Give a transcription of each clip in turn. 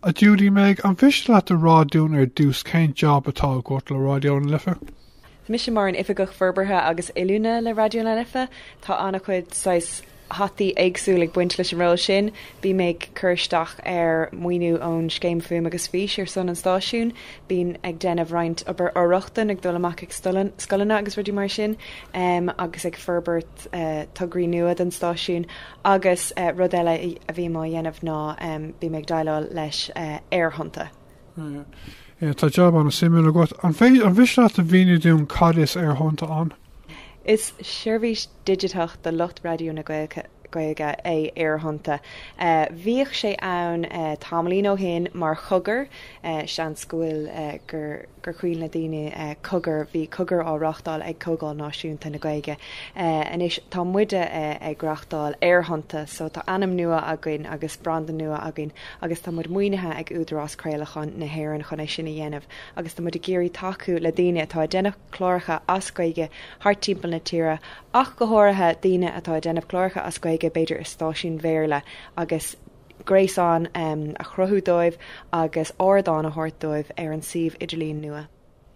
A Judy Meg, an mhiste leat a rá dúinn ar dtús cén jab atá agat le Raidió na Life? So mise mar an Oifigeach Forbartha agus Oiliúna le Raidió na Life, tá ana-chuid saghas hataí éagsúil ag baint leis an ról sin, bím ag cur isteach ar maoiniú ón Scéim Fuaim agus Fís ar son an stáisiúin, bím ag déanamh roinnt obair for-rochtana, ag dul amach ag scoileanna agus rudaí mar sin, agus ag forbairt. tograí nua don stáisiún agus rud eile a bhím á dhéanamh ná bím ag déileáil leis aerthonnta. Tá jab ana-shuimiúil agat. An mhiste leat a mhíniú dúinn cad is aerthonnta ann? Is seirbhís digiteach do lucht raidió na Gaeilge é Aerthonnta. Bhíodh sé ann tamaillín ó shin mar chogar Seans go bhfuil gur cuimhin le daoine Cogar, bhí cogar á reáchtáil ag Comhdháil Náisiúnta na Gaeilge. Anois tá muide ag reáchtáil Aerthonnta so tá ainm nua againn agus branda nua againn agus tá muid maoinithe ag Údarás Craolacháin na hÉireann chun é sin a dhéanamh agus tá muid ag iarraidh tacú le daoine atá ag déanamh cláracha as Gaeilge thart timpeall na tíre ach go háirithe daoine atá ag déanamh cláracha as Gaeilge b'fhéidir i stáisiúin Bhéarla agus gréasán a chruthú dóibh agus ardán a thabhairt dóibh ar an suíomh idirlín nua.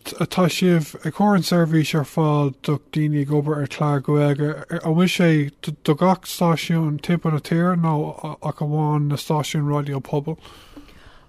Tá sibh ag cur an seirbhís ar fáil do daoine ag obair ar chlár Gaeilge. An bhfuil sé do gach stáisiún timpeall na tíre nó ach amháin na stáisiúin raidió pobail?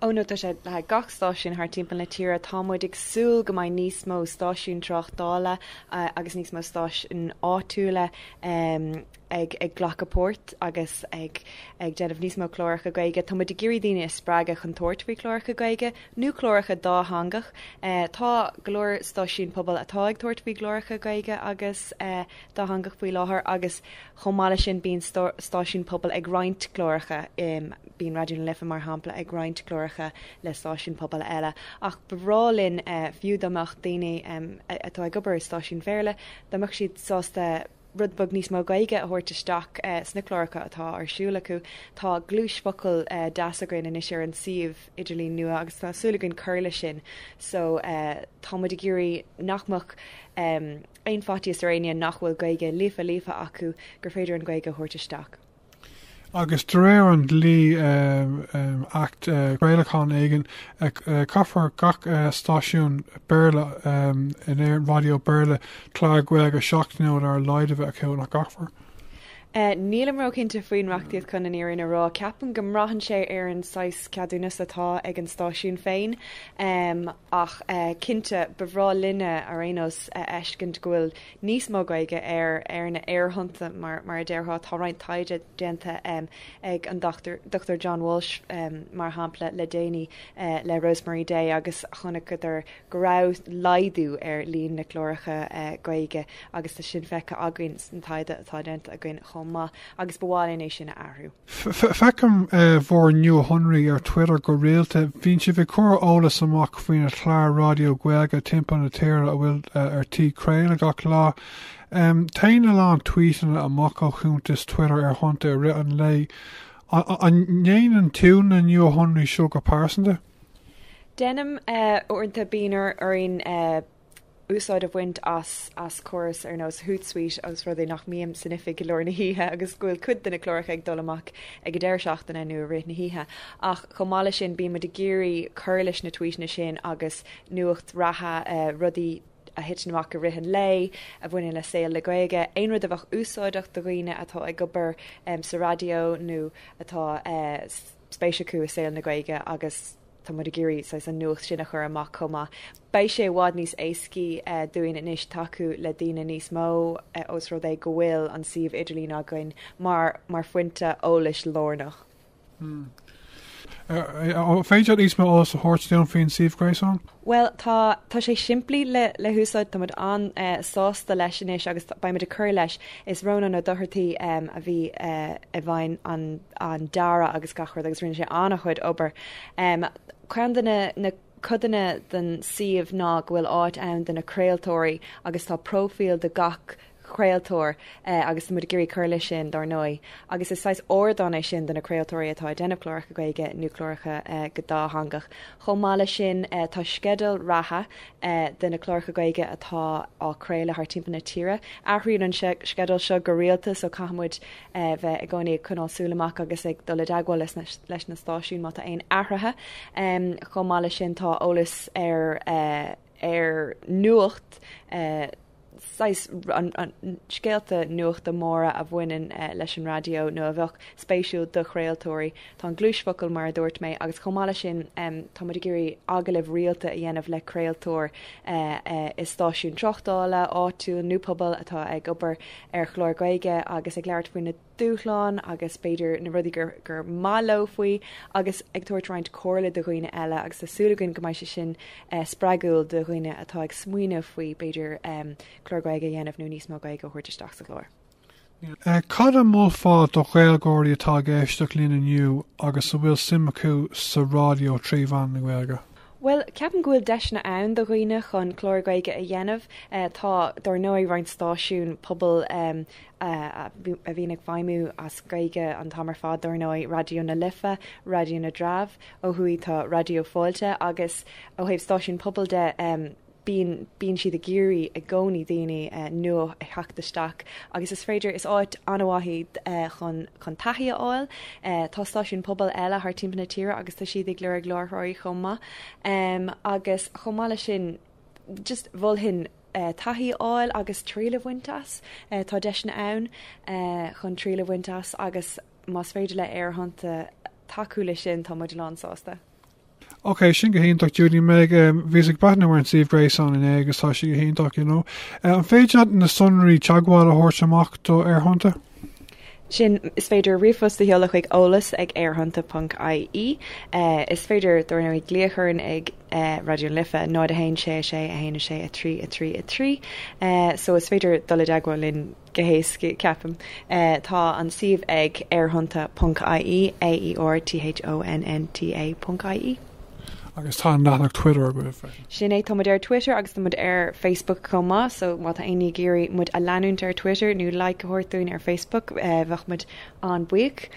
Ó no tá sé le haghaidh gach stáisiún thar timpeall na tíre. Tá muid ag súil go mbeidh níos mó stáisiún tráchtála agus níos mó stáisiún áitiúla ag ag glacadh páirt agus ag ag déanamh níos mó cláracha Gaeilge. Tá muid ag iarraidh daoine a spreagadh chun tabhairt faoi chláracha Gaeilge nó cláracha dátheangach. Eh tá go leor stáisiúin pobail atá ag tabhairt faoi chláracha Gaeilge agus eh dátheangach faoi láthair agus chomh maith le sin bíonn stá stáisiúin pobail ag roinnt cláracha im bíonn Raidió na Life mar shampla ag roinnt cláracha le stáisiúin pobail eile. Ach ba bhreá linn eh fiú dá mbeadh daoine em a atá ag obair i stáisiúin Bhéarla dá mbeadh siad sásta rud beag níos mó Gaeilge a thabhairt isteach sna cláracha atá ar siúl acu. Tá gluais focal deas againn anois ar an suíomh idirlín nua agus tá súil againn cur leis sin so tá muid ag iarraidh nach mbeadh aon faitíos ar éinne nach bhfuil Gaeilge líofa líofa acu gur féidir an Ghaeilge a thabhairt isteach. agus de réir an dlí, Acht Craolacháin éigin, caithfear gach stáisiún Béarla in Éirinn, raidió Béarla, clár Gaeilge seachtainiúil ar a laghad a bheith acu, nach gcaithfear? Nílim róchinnte faoin reachtaíocht chun an fhírinne a rá. Ceapaim go mbraitheann sé ar an saghas ceadúnas atá ag an stáisiún féin. Ach cinnte, ba bhreá linne, ar aon nós, a fheiscint go bhfuil níos mó Gaeilge ar ar na haerthonnta mar mar a déarfá. Tá roinnt taighde déanta ag an Dr John Walsh mar shampla le déanaí le Rosemary Day agus chonaiceadar go raibh laghdú ar líon na gcláracha Gaeilge agus tá sin feicthe againn sa taighde atá déanta againn chomh maith agus ba mhaith linn é sin a athrú. Feicim bhur nuashonraí ar Twitter go rialta. Bíonn sibh ag cur eolas amach faoi na cláir raidió Gaeilge timpeall na tíre a bhfuil ar tí craoladh gach lá. Téann a lán tweetanna amach ó chuntas Twitter Aerthonnta i rith an lae. An ndéanann tú na nuashonraí seo go pearsanta? Deinim uaireanta bíonn orainn úsáid a bhaint as as córas ar nós Hootsuite os rud é nach mbím san oifig go lár na hoíche agus go bhfuil cuid de na cláracha ag dul amach ag an deireadh seachtaine nó i rith na hoíche. Ach chomh maith leis sin, bíonn muid ag iarraidh cur leis na tweeteanna sin agus nuacht reatha, rudaí a thiteann amach i rith an lae a bhaineann le saol na Gaeilge, aon rud a bheadh úsáideach do dhaoine atá ag obair sa raidió nó atá spéis acu i saol na Gaeilge agus. Tá muid ag iarraidh saghas an nuacht sin a chur amach chomh maith. Beidh sé i bhfad níos éascaí dúinn anois tacú le daoine níos mó os rud é go bhfuil an suíomh idirlín againn mar mar phointe eolais lárnach. An féidir níos mó eolas a thabhairt dúinn faoin suíomh gréasáin? Bhuel tá tá sé simplí le le húsáid tá muid an-sásta leis anois agus beidh muid ag cur leis. Is Rónán Ó Dochartaigh a bhí i bhfeighil an dearadh agus gach rud agus rinne sé an-chuid obair. Ceann de na codanna den suíomh ná go bhfuil áit ann do na craoltóirí agus tá próifíl do gach craoltóir agus tá muid ag iarraidh cur leis sin dár ndóigh. Agus is saghas ardán é sin do na craoltóirí atá ag déanamh cláracha Gaeilge nó cláracha go dátheangach. Chomh maith leis sin tá sceideal reatha de na cláracha Gaeilge atá á craoladh thar timpeall na tíre. Athraíonn an sceideal seo go rialta so caithfidh muid bheith i gcónaí ag coinneáil súil amach agus ag dul i dteagmháil leis na stáisiúin má tá aon athruithe. Chomh maith leis sin tá eolas ar. ar nuacht saghas scéalta nuachta móra a bhaineann leis an raidió nó a bheadh spéisiúil do chraoltóirí. Tá an cluaisfhocail mar a dúirt mé agus chomh maith leis sin tá muid ag iarraidh agallaimh rialta a dhéanamh le craoltóir i stáisiún tráchtála áitiúil nó pobail atá ag obair ar chlár Gaeilge agus ag labhairt faoi na dúshlán agus b'fhéidir na rudaí gur gur maith leo faoi agus ag tabhairt roinnt comhairle do dhaoine eile agus tá súil againn go mbeidh sé sin spreagúil do dhaoine atá ag smaoineamh faoi b'fhéidir clár Gaeilge a dhéanamh nó níos mó Gaeilge a thabhairt isteach sa gclár. Cad a mholfá do Ghaeilgeoirí atá ag éisteacht linn inniu agus a bhfuil suim acu sa raidió trí mheán na Gaeilge? Bhuel, ceapaim go bhfuil deiseanna ann do dhaoine chun clár Gaeilge a dhéanamh. Tá, dar ndóigh, roinnt stáisiún pobail a bhíonn ag feidhmiú as Gaeilge an t-am ar fad, dar ndóigh, Raidió na Life, Raidió na dTreabh, ó thuaidh tá Raidió Fáilte agus ó thaobh stáisiún pobail de em, bíonn, bíonn siad ag iarraidh i gcónaí daoine eh nua a theacht isteach agus is féidir, is áit an-mhaith í eh chun, chun taithí a fháil. Eh tá stáisiúin pobail eile thar timpeall na tíre agus tá siad ag lorg láithreoirí chomh maith. Em, agus chomh maith leis sin just mholfainn, taithí a fháil agus triail a bhaint as. Tá deiseanna ann chun triail a bhaint as agus más féidir le Aerthonnta tacú le sin tá muid lán sásta. Ok sin go hiontach Judy-Meg bhíos ag breathnú ar an suíomh gréasáin inné agus tá sé go hiontach you know. An féidir leat na sonraí teagmhála a thabhairt amach do Aerthonnta? sin, is féidir ríomhphost a sheoladh chuig eolas ag aerthonnta ponc ie. Is féidir, dar ndóigh, glaoch orainn ag Raidió na Life 01 66 1 6 3 3 3 so is féidir dul i dteagmháil linn go héasca, ceapaim. Tá an suíomh ag aerthonnta ponc ie, A E R T H O N N T A ponc ie. Agus tá an leathanach Twitter agaibh freisin. Sin é, tá muid ar Twitter agus tá muid ar Facebook chomh maith, so má tá éinne ag iarraidh muid a leanúint ar Twitter nó like a thabhairt dúinn ar Facebook bheadh muid an-buíoch.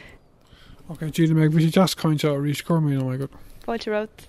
Ok Judy-Meg, bhí sé deas caint leat arís, go raibh míle maith agat. Fáilte romhat.